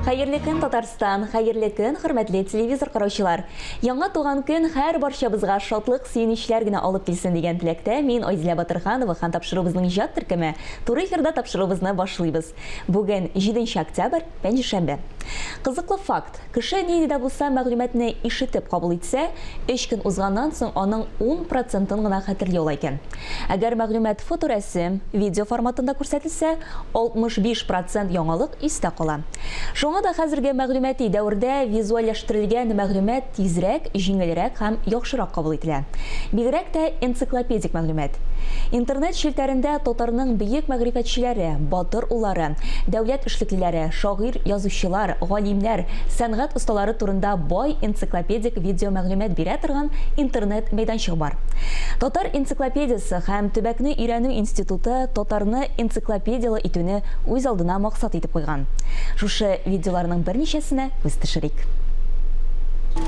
Хәерле көн, Татарстан! Хәерле көн, хөрмәтле телевизор караучылар! Яңа туган көн һәр барчабызга шатлык, сөенечләр генә алып килсен дигән теләктә мин Айзилә Батырханова хан тапшыруыбызның иҗат төркеме туры эфирда тапшыруыбызны башлыйбыз. Бүген, җиденче октябрь, пәнҗешәмбе. Кызыклы факт, кеше нинди дә булса мәгълүматны ишетеп кабул итсә, өч көн узганнан соң аның ун процентын гына хәтерли ала икән. Әгәр мәгълүмат фоторәсем, видео форматында күрсәтелсә, 65 процент яңалык истә кала. Шуңа да хәзерге мәгълүмати дәвердә визуальләштерелгән мәгълүмат тизрәк, җиңелрәк һәм яхшырак кабул ителә. Бигрәк тә энциклопедик мәгълүмат. Интернет челтәрендә татарның бөек мәгърифәтчеләре, батыр уллары, дәүләт эшлеклеләре, шагыйрь, язучылар, галимнәр, сәнгать осталары турында бай энциклопедик видеомәгълүмат бирә торган интернет-мәйданчык бар. Татар энциклопедиясе һәм төбәкне өйрәнү институты татарны энциклопедияле итүне үз алдына максат итеп куйган. Шушы видеоларның берничәсенә күз төшерик.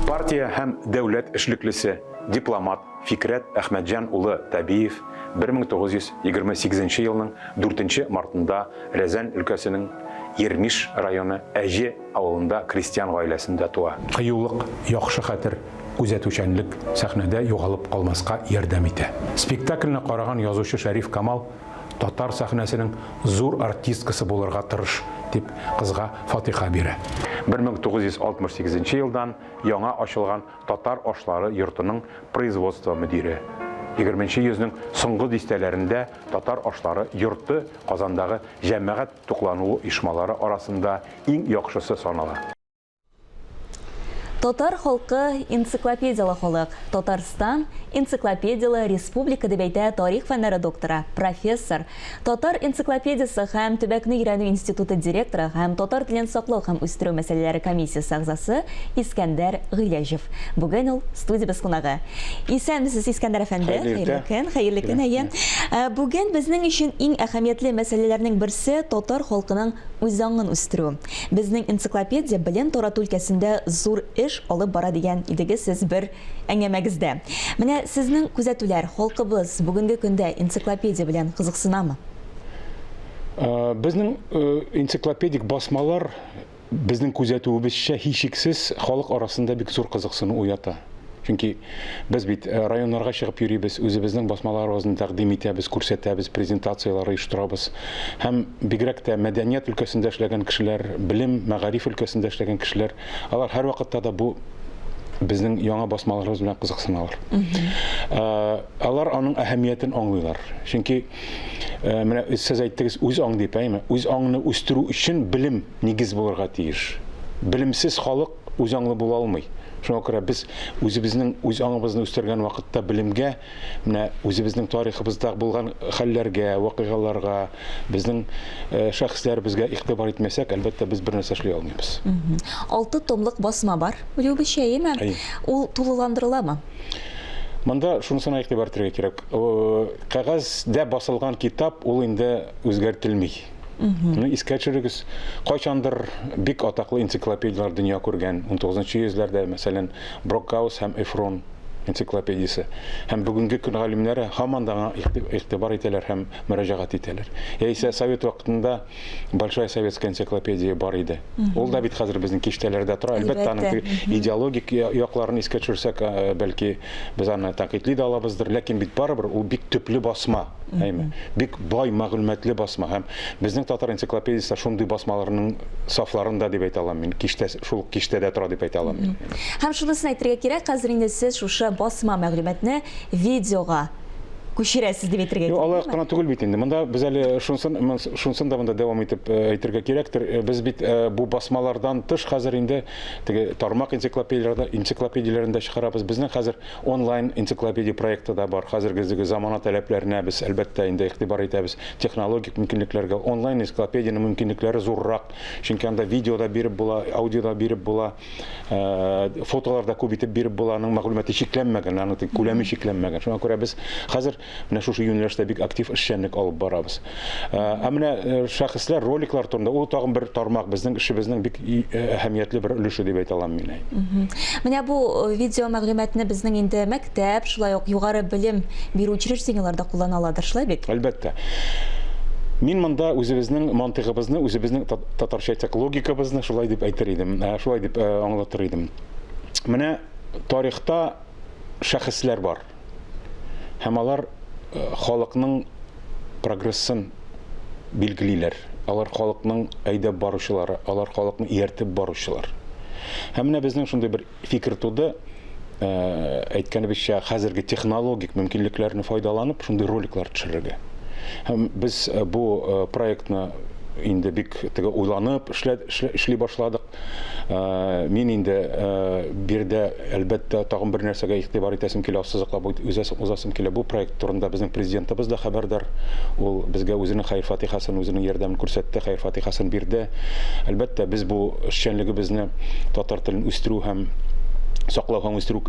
Партия һәм дәүләт эшлеклесе, дипломат Фикърәт Әхмәтҗан улы Табиев 1928 елның 4 нче мартында Рязань өлкәсенең Ермиш районы Әҗе авылында крестьян гаиләсендә туа. Кыюлык, яхшы хәтер, күзәтүчәнлек сәхнәдә югалып калмаска ярдәм итә. Спектакльне караган язучы Шәриф Камал Татар сәхнәсенең зур артисткасы булырга тырыш, дип, кызга фатиха бирә. 1968 елдан яңа ачылган Татар ашлары йортының производство мөдире. ХХ йөзнең соңгы дистәләрендә Татар ашлары йорты Казандагы җәмәгать туклануы оешмалары арасында иң яхшысы санала. Татар халкы энциклопедиялы халык. Татарстан энциклопедиялы республика дип әйтә тарих фәннәре докторы, профессор, Татар энциклопедиясе һәм төбәкне өйрәнү институты директоры һәм татар телен саклау һәм үстерү мәсьәләләре комиссиясе әгъзасы Искәндәр Гыйләҗев. Бүген ул студиябез кунагы. Исәнмесез, Искәндәр әфәнде. Хәерле көн. Хәерле көн, әйе. Э, бүген безнең өчен иң әһәмиятле мәсьәләләрнең берсе татар халкының үзаңын үстерү. Безнең энциклопедия белем тарату өлкәсендә зур эш алып бара дигән идегез сез бер әңгәмәгездә. Менә сезнең күзәтүләр, халкыбыз бүгенге көндә энциклопедия белән кызыксынамы? Безнең энциклопедик басмалар, безнең күзәтүебезчә, һичшиксез, халык арасында бик зур кызыксыну уята. Чөнки без бит районнарга чыгып йөрибез, үзебезнең басмаларыбызны тәкъдим итәбез, күрсәтәбез, презентацияләр оештырабыз. Һәм бигрәк тә мәдәният өлкәсендә эшләгән кешеләр, белем, мәгариф өлкәсендә эшләгән кешеләр, алар һәрвакытта да бу безнең яңа басмаларыбыз белән кызыксыналар. Алар аның әһәмиятен аңлыйлар. Чөнки менә сез әйттегез, үз аң дип, әйеме? Үз аңны үстерү өчен белем нигез булырга тиеш. Белемсез халык үзаңлы була алмый. Шуңа күрә без үзебезнең үз аңыбызны үстергән вакытта белемгә, менә үзебезнең тарихыбызда булган хәлләргә, вакыйгаларга, безнең э, шәхесләребезгә игътибар итмәсәк, әлбәттә, без бер нәрсә эшли алмыйбыз. Алты томлык басма бар, Рюбе чәеме? Ул тулыландырыламы? Монда шунысына игътибар итәргә кирәк. Э, кәгазьдә басылган китап ул инде үзгәртелми. Ну, искә төшерегез, кайчандыр бик атаклы энциклопедияләр дөнья күргән. 19-нчы йөзләрдә, мәсәлән, Брокгаус һәм Эфрон энциклопедиясе. Һәм бүгенге көн галимнәре һаман да игътибар итәләр һәм мөрәҗәгать итәләр. Яисә совет вакытында Большая советская энциклопедия бар иде. Ул да бит хәзер безнең киштәләрдә тора. Әлбәттә, аның идеологик якларын искә төшерсәк, бәлки Без аны тәнкыйтьли дә алабыздыр, ләкин бит барыбер ул бик төпле басма, әйме? Бик бай мәгълүматлы басма һәм безнең татар энциклопедиясе шундый басмаларның сафларында дип әйтә алам мин. Киштә шул ук киштәдә тора дип әйтә алам мин. Һәм шунысын әйтергә кирәк, хәзер инде сез шушы басма мәгълүматны видеога күчерәсез дип әйтергә кирәк. Юк, алай гына түгел бит инде. Монда без әле шунсын, шунсын да монда дәвам итеп әйтергә кирәктер. Без бит бу басмалардан тыш хәзер инде Теге тармак энциклопедияләрдә, энциклопедияләрен дә чыгарабыз. Безнең хәзер онлайн энциклопедия проекты да бар. Хәзерге изге замана таләпләренә без, әлбәттә, инде игътибар итәбез. Технологик мөмкинлекләргә онлайн энциклопедиянең мөмкинлекләре зуррак, чөнки анда видео да биреп була, аудио да биреп була, фотолар да күп итеп биреп була. Аның мәгълүматы чикләнмәгән, аның күләме чикләнмәгән. Шуңа күрә без хәзер Менә шушы юнәлештә бик актив эшчәнлек алып барабыз. Ә менә шәхесләр, роликлар турында ул тагын бер тармак безнең эшебезнең бик әһәмиятле бер өлеше дип әйтә алам мин. Менә бу видео мәгълүматны безнең инде мәктәп, шулай ук югары белем бирү учреждениеләре дә куллана аладыр, шулай бит? Әлбәттә. Мин монда үзебезнең мантыйгыбызны, үзебезнең татарча әйтсәк, логикабызны шулай дип әйтер идем, ә, шулай дип э, аңлатыр идем. Менә тарихта шәхесләр бар. һәм алар халыкның прогрессын билгелиләр. Алар халыкның әйдәп баручылары, алар халыкны ияртеп баручылар. Һәм менә безнең шундый бер фикер туды, э, әйткәнебезчә, хәзерге технологик мөмкинлекләрне файдаланып, шундый роликлар төшерергә. Һәм без э, бу э, проектны инде бик теге уйланып эшли башладык. Мин инде биредә, әлбәттә, тагын бер нәрсәгә игътибар итәсем килә, ассызыклап узасым килә. Бу проект турында безнең Президентыбыз да хәбәрдар. Ул безгә үзенең хәер-фатихасын, үзенең ярдәмен күрсәтте, хәер-фатихасын бирде. Әлбәттә, без бу эшчәнлегебезне татар телен үстерү һәм саклау һәм үстерү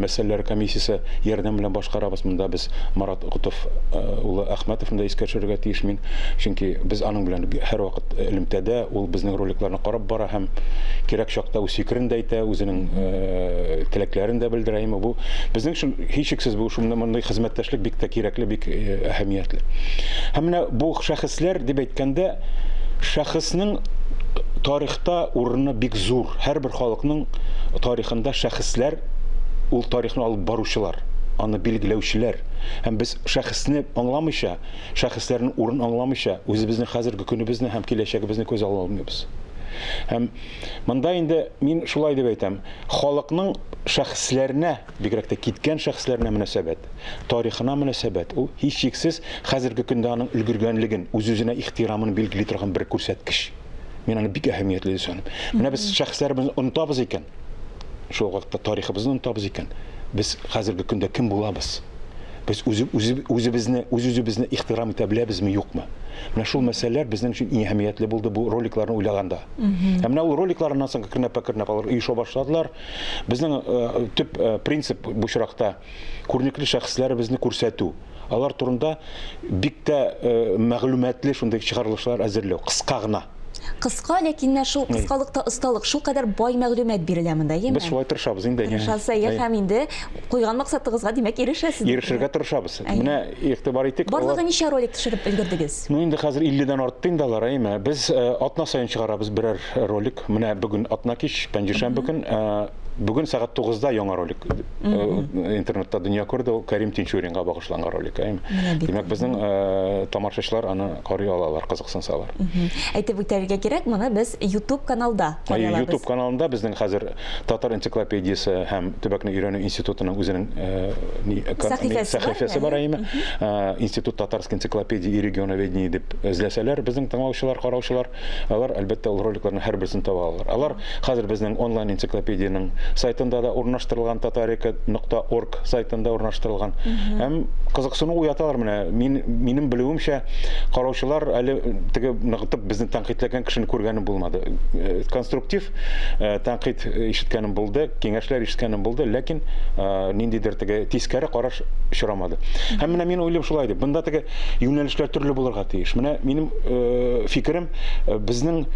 мәсьәләләре комиссиясе ярдәме белән башкарабыз. Монда без Марат Котов улы Әхмәтовны да искә төшерергә тиеш мин, чөнки без аның белән һәрвакыт элемтәдә, ул безнең роликларны карап бара һәм кирәк чакта үз фикерен дә әйтә, үзенең теләкләрен дә белдерә. Әмма бу безнең өчен, һичшиксез, бу шундый мондый хезмәттәшлек бик тә кирәкле, бик әһәмиятле. Һәм менә бу шәхесләр дип әйткәндә, шәхеснең тарихта урыны бик зур. Һәрбер халыкның тарихында шәхесләр, ул тарихны алып баручылар. Хак, аны билгеләүчеләр. Һәм без шәхесне аңламыйча, шәхесләрнең урын аңламыйча, үзебезнең хәзерге көнебезне һәм киләчәгебезне күз ала алмыйбыз. Һәм монда инде мин шулай дип әйтәм, халыкның шәхесләренә, бигрәк тә киткән шәхесләренә мөнәсәбәт, тарихына мөнәсәбәт, ул һичшиксез хәзерге көндә аның өлгергәнлеген, үз-үзенә ихтирамын билгели торган бер күрсәткеч. Мин аны бик әһәмиятле дип саныйм. Менә без шәхесләребезне онытабыз икән, шул вакытта тарихыбызны онытабыз икән, без хәзерге көндә кем булабыз? Без үзебезне, үз-үзебезне ихтирам итә беләбезме, юкмы? Менә шул мәсьәләләр безнең өчен иң әһәмиятле булды бу роликларны уйлаганда. Ә менә ул роликларыннан соң кернәпә-кернәп алар оеша башладылар. Безнең э, төп э, принцип бу очракта күренекле шәхесләребезне күрсәтү. Алар турында бик тә мәгълүматлы шундый чыгарылышлар әзерләү, кыска гына. Кыска, ләкин менә шул кыскалыкта осталык, шул кадәр бай мәгълүмат бирелә монда, яме? Без шулай тырышабыз инде. Тырышасы, я һәм инде куйган максатыгызга, димәк, ирешәсез. Ирешергә тырышабыз. Менә игътибар итик. Барлыгы ничә ролик төшереп өлгердегез? Ну, инде хәзер 50 дән артты инде алар, яме? Без атна саен чыгарабыз берәр ролик. Менә бүген атна кич, пәнҗешәмбе көн. Бүген сәгать 9-да яңа ролик э, интернетта дөнья күрде, ул Кәрим Тинчуринга багышланган ролик. Ә? Димәк, безнең э, тамашачылар аны карый алалар, кызыксынсалар. Әйтеп үтәргә кирәк, моны без YouTube каналда карый алабыз. YouTube каналында безнең хәзер Татар энциклопедиясе һәм төбәкне өйрәнү институтының үзенең э, сәхифәсе бар, әйме. Институт татарской энциклопедии и регионоведения дип эзләсәләр, безнең тыңлаучылар, караучылар, Алар, әлбәттә, ул роликларның һәрберсен таба алалар. Алар хәзер безнең онлайн-энциклопедиянең сайтында-да урнаштырылган, Tatarika нокта орг сайтында урнаштырылган. Һәм кызыксыну уяталар менә. Мин, минем белүемчә, караучылар әле теге ныгытып безне тәнкыйтьләгән кешене күргәнем булмады. Конструктив тәнкыйть ишеткәнем булды, киңәшләр ишеткәнем булды, ләкин ниндидер теге тискәре караш очрамады. Һәм менә мин уйлыйм шулай дип, монда теге юнәлешләр төрле булырга тиеш. тиеш. Менә минем э, фикерем, э, безнең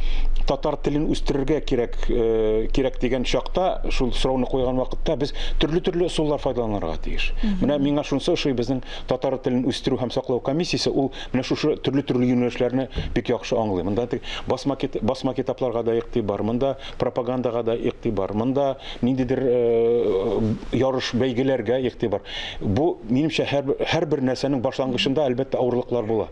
татар телен үстерергә кирәк, э, кирәк дигән чакта, шул сорауны куйган вакытта без төрле-төрле ысуллар файдаланырга тиеш. Менә миңа шунысы ошый, безнең татар телен үстерү һәм саклау комиссиясе ул менә шушы төрле-төрле юнәлешләрне бик яхшы аңлый. Монда басма, басма китапларга да игътибар, монда пропагандага да игътибар, монда ниндидер ярыш, бәйгеләргә игътибар. Бу, минемчә, һәрбер нәрсәнең башлангычында, әлбәттә, авырлыклар була.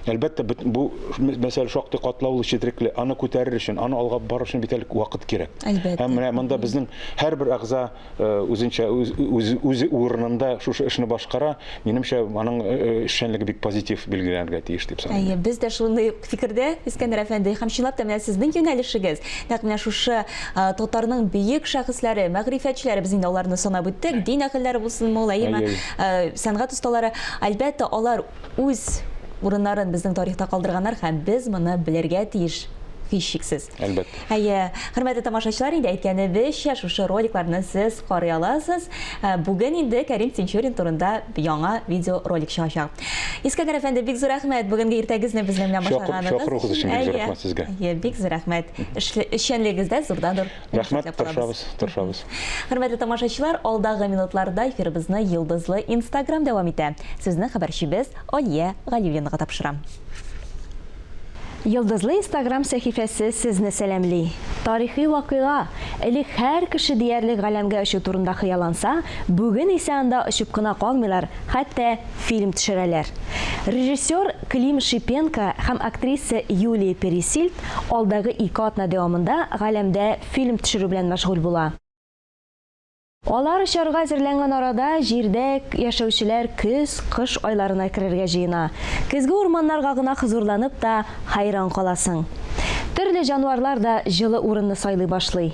Әлбәттә, бу мәсьәлә шактый катлаулы, четрекле. Аны күтәрер өчен, аны алга барыр өчен бит әле вакыт кирәк. Һәм менә монда безнең һәрбер әгъза үзенчә үз урынында шушы эшне башкара, минемчә, аның эшчәнлеге бик позитив билгеләнергә тиеш дип саныйм. Әйе, без дә шундый фикердә, Искәндәр әфәнде. Һәм чынлап та, менә сезнең юнәлешегез, нәкъ менә шушы татарның бөек шәхесләре, мәгърифәтчеләре, без инде аларны санап үттек, дин әһелләре булсынмы ул, әйеме, сәнгать осталары, әлбәттә, алар үз урыннарын безнең тарихта калдырганнар һәм без моны белергә тиеш, һичшиксез. әлбәттә. Әйе, хөрмәтле тамашачылар, инде әйткәнебезчә, шушы роликларны сез карый аласыз. Бүген инде Кәрим Тинчурин турында яңа видеоролик чыгачак. Искәндәр әфәнде, бик зур рәхмәт, бүгенге иртәгезне безнең белән башлаганыгыз өчен. Чакыруыгыз өчен бик зур рәхмәт сезгә. Әйе, бик зур рәхмәт. Эшчәнлегегез дә зурдан-зур уңыш теләп калабыз. Рәхмәт, тырышабыз, тырышабыз. Хөрмәтле тамашачылар, алдагы минутларда эфирыбызны Йолдызлы Инстаграм дәвам итә. Сүзне хәбәрчебез Алия Галиуллинага тапшырам. Йолдызлы инстаграм сәхифәсе сезне сәламли! Тарихи вакыйга, элек һәр кеше диярлек галәмгә очу турында хыялланса, бүген исә анда очып кына калмыйлар, хәтта фильм төшерәләр. Режиссер Клим Шипенко һәм актриса Юлия Пересильд алдагы ике атна дәвамында галәмдә фильм төшерү белән мәшгуль була. Алар очарга әзерләнгән арада җирдә яшәүчеләр көз, кыш айларына керергә җыена. Көзге урманнарга гына хозурланып та хәйран каласың. Төрле җанварлар да җылы урынны сайлый башлый.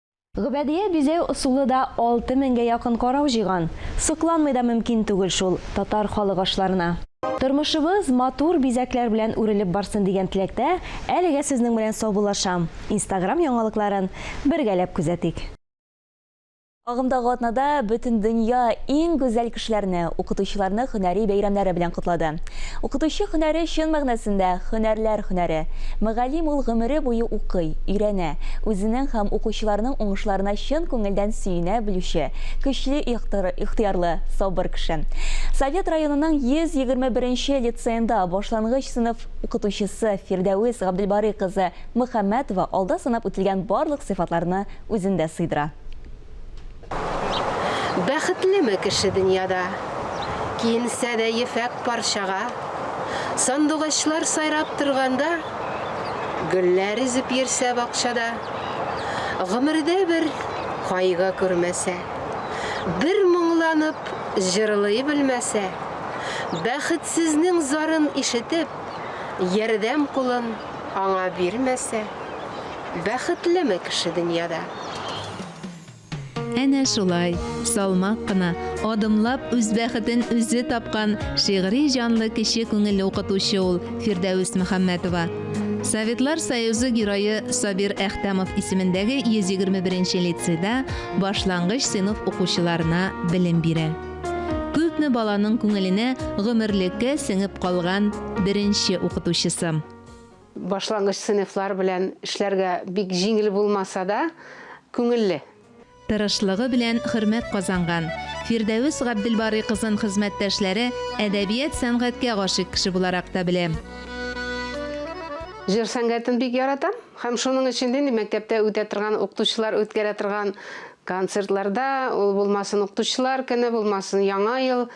Гөбәдия бизәү ысулы да алты меңгә якын карау җыйган. Сокланмый да мөмкин түгел шул татар халык ашларына. Тормышыбыз матур бизәкләр белән үрелеп барсын дигән теләктә, әлегә сезнең белән саубуллашам. Инстаграм яңалыкларын бергәләп күзәтик. Агымдагы атнада Бөтендөнья иң гүзәл кешеләрне, укытучыларны һөнәри бәйрәмнәре белән котлады. Укытучы һөнәре чын мәгънәсендә, һөнәрләр һөнәре. Мөгаллим ул гомере буе укый, өйрәнә, үзенең һәм укучыларның уңышларына чын күңелдән сөенә белүче, көчле ихтыярлы, сабыр кеше. Совет районының 121 нче лицеенда башлангыч сыйныф укытучысы Фирдәвес Габделбарый кызы Мөхәммәтова алда санап үтелгән барлык сыйфатларны үзендә сыйдыра. Бәхетлеме кеше дөньяда? Киенсә дә ефәк парчага. Сандугачлар сайрап торганда. Гөлләр өзеп йөрсә бакчада. Гомердә бер кайгы күрмәсә. Бер моңланып җырлый белмәсә. Бәхетсезнең зарын ишетеп. Ярдәм кулын аңа бирмәсә. Бәхетлеме кеше дөньяда? Әнә шулай, салмак кына, адымлап үз бәхетен үзе тапкан шигъри җанлы кече күңелле укытучы ул Фирдәвес Мөхәммәтова. Советлар Союзы Герое Сабир Әхтәмов исемендәге 121 нче лицейда башлангыч сыйныф укучыларына белем бирә. Күпме баланың күңеленә гомерлеккә сеңеп калган беренче укытучысы. Башлангыч сыйныфлар белән эшләргә бик җиңел булмаса да, күңелле. Тырышлыгы белән хөрмәт казанган Фирдәвес Габделбарый кызын хезмәттәшләре әдәбият-сәнгатькә гашыйк кеше буларак та белә. Җыр сәнгатен бик яратам һәм шуның өчен дә мәктәптә үтә торган укытучылар үткәрә торган концертларда, ул булмасын укытучылар көне, булмасын Яңа ел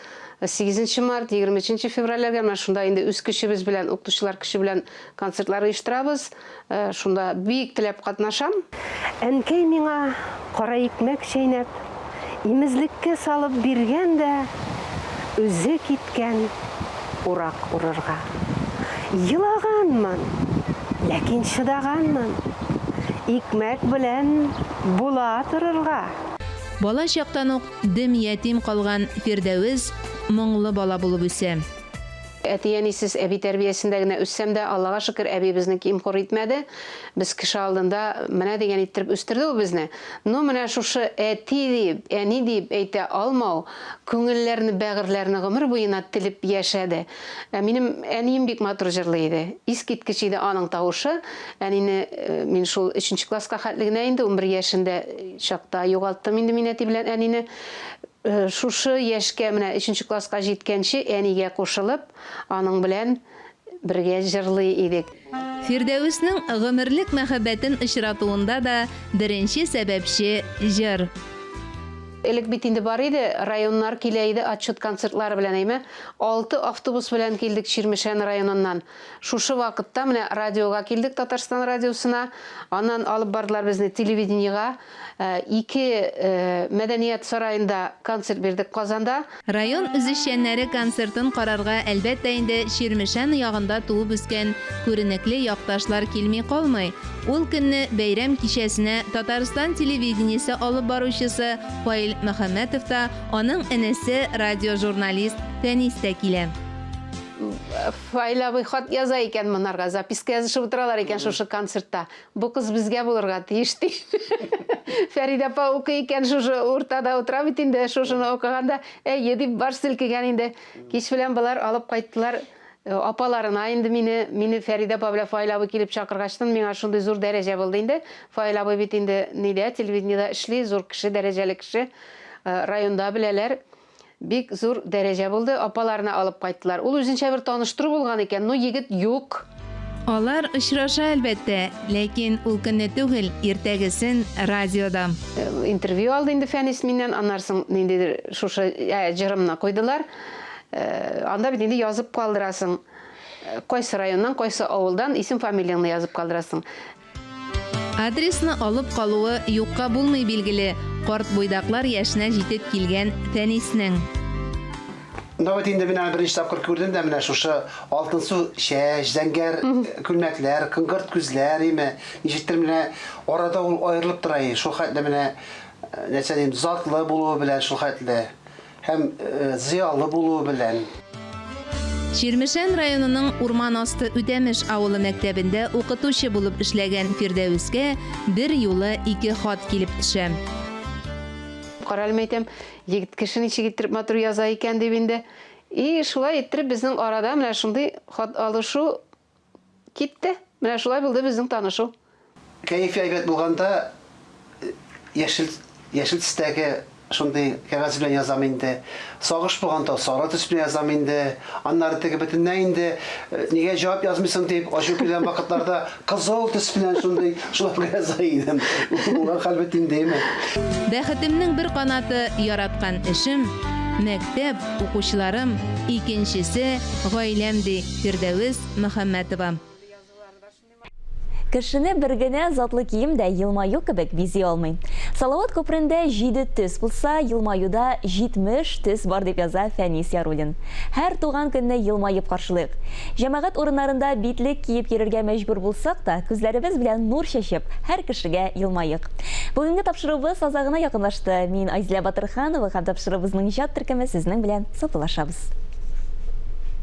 Сигезенче март, егерме өченче февральләргә менә шунда инде үз көчебез белән, укытучылар көче белән концертлар оештырабыз. Шунда бик теләп катнашам. Әнкәй миңа кара икмәк чәйнәп, имезлеккә салып биргән дә үзе киткән урак урырга. Елаганмын, ләкин чыдаганмын. Икмәк белән була торырга. Бала чактан ук Дөм ятим калган Фирдәвес моңлы бала булып үсә. Әти-әнисез, әби тәрбиясендә генә үссәм дә, Аллага шөкер, әби безне ким-хур итмәде. Без кеше алдында менә дигән иттереп үстерде ул безне. Ну, менә шушы әти дип, әни диеп әйтә алмау күңелләрне, бәгырьләрне гомер буена телеп яшәде. Ә минем әнием бик матур җырлый иде. Искиткеч иде аның тавышы. Әнине мин шул 3 нче класска хәтле генә инде, унбер яшендә чакта югалттым инде мин әти белән әнине. Шушы яшькә, менә 3 нче класска җиткәнче, әнигә кушылып, аның белән бергә җырлый идек. Фирдәвеснең гомерлек мәхәббәтен очратуында да беренче сәбәпче, җыр. Элек бит инде бар иде, районнар килә иде отчет концертлары белән, әйме? Алты автобус белән килдек Чирмешән районыннан. Шушы вакытта менә радиога килдек, Татарстан радиосына. Аннан алып бардылар безне телевидениегә. Ике мәдәният сараенда концерт бирдек Казанда. Район үзешчәннәре концертын карарга, әлбәттә инде, Чирмешән ягында туып үскән күренекле якташлар килми калмый. Ул көнне бәйрәм кичәсенә Татарстан телевидениесе алып баручысы Фаил Мөхәммәтов та, аның энесе, радиожурналист Фәнис тә килә. Фаил абый хат яза икән монарга, записка язышып утыралар икән шушы концертта. Бу кыз безгә булырга тиеш ди. Фәридә апа укый икән, шушы уртада утыра бит инде, шушыны укыганда, әйе дип баш селкегән инде. Кич белән болар алып кайттылар э, апаларына инде мине, мине Фәридә апа белән Фаил абый килеп чакыргачтын, миңа шундый зур дәрәҗә булды инде. Фаил абый бит инде нидә, телевидениедә эшли, зур кеше, дәрәҗәле кеше. Э, районда беләләр. Бик зур дәрәҗә булды, апаларына алып кайттылар. Ул үзенчә бер таныштыру булган икән, ну егет юк. Алар очраша әлбәттә, ләкин ул көнне түгел, иртәгесен радиода. Интервью алды инде Фәнис миннән, аннары соң ниндидер шушы ә, җырымны куйдылар. Э, анда бит инде язып калдырасың, э, кайсы районнан, кайсы авылдан исем-фамилияңны язып калдырасың. Адресны алып калуы юкка булмый билгеле, карт буйдаклар яшенә җитеп килгән Фәниснең. Ну вот инде менә беренче тапкыр күрдем дә менә шушы алтынсу чәч, зәңгәр күлмәкләр, кыңгырт күзләр име, ничектер менә арада ул аерылып тора и шул хәтле менә нәрсә дим, затлы булуы белән шул хәтле. Һәм зыялы булуы белән. Чирмешән районының Урман асты Үтәмеш авылы мәктәбендә укытучы булып эшләгән Фирдәвескә берьюлы ике хат килеп төшә. Карале, мәйтәм, егет кеше ничек иттереп матур яза икән, дим инде. И шулай иттереп безнең арада менә шундый хат алышу Китте. Менә шулай булды безнең танышу. Кәефе әйбәт булганда яшел, яшел төстәге шундый кәгазь белән язам инде. Сагыш булганда сары төс белән язам инде. Аннары теге бөтенләй инде, нигә җавап язмыйсың дип ачу килгән вакытларда кызыл төс белән шундый Шулай белән Заидем. Улар хәлбе тиңдейме? Бәхетемнең бер канаты, яраткан эшем, мәктәп, укучыларым, икенчесе, гаиләм, ди Фирдәвес Мөхәммәтова. Кешене бер генә затлы кием дә елмаю кебек бизи алмый. Салават күперендә җиде төс булса, елмаюда 70 төс бар, дип яза Фәнис Яруллин. Һәр туган көнне елмаеп каршылыйк. Җәмәгать урыннарында битлек киеп йөрергә мәҗбүр булсак та, күзләребез белән нур чәчеп, һәр кешегә елмаек. Бүгенге тапшыруыбыз азагына якынлашты. Мин Айзилә Батырханова һәм тапшыруыбызның иҗат төркеме сезнең белән саубуллашабыз.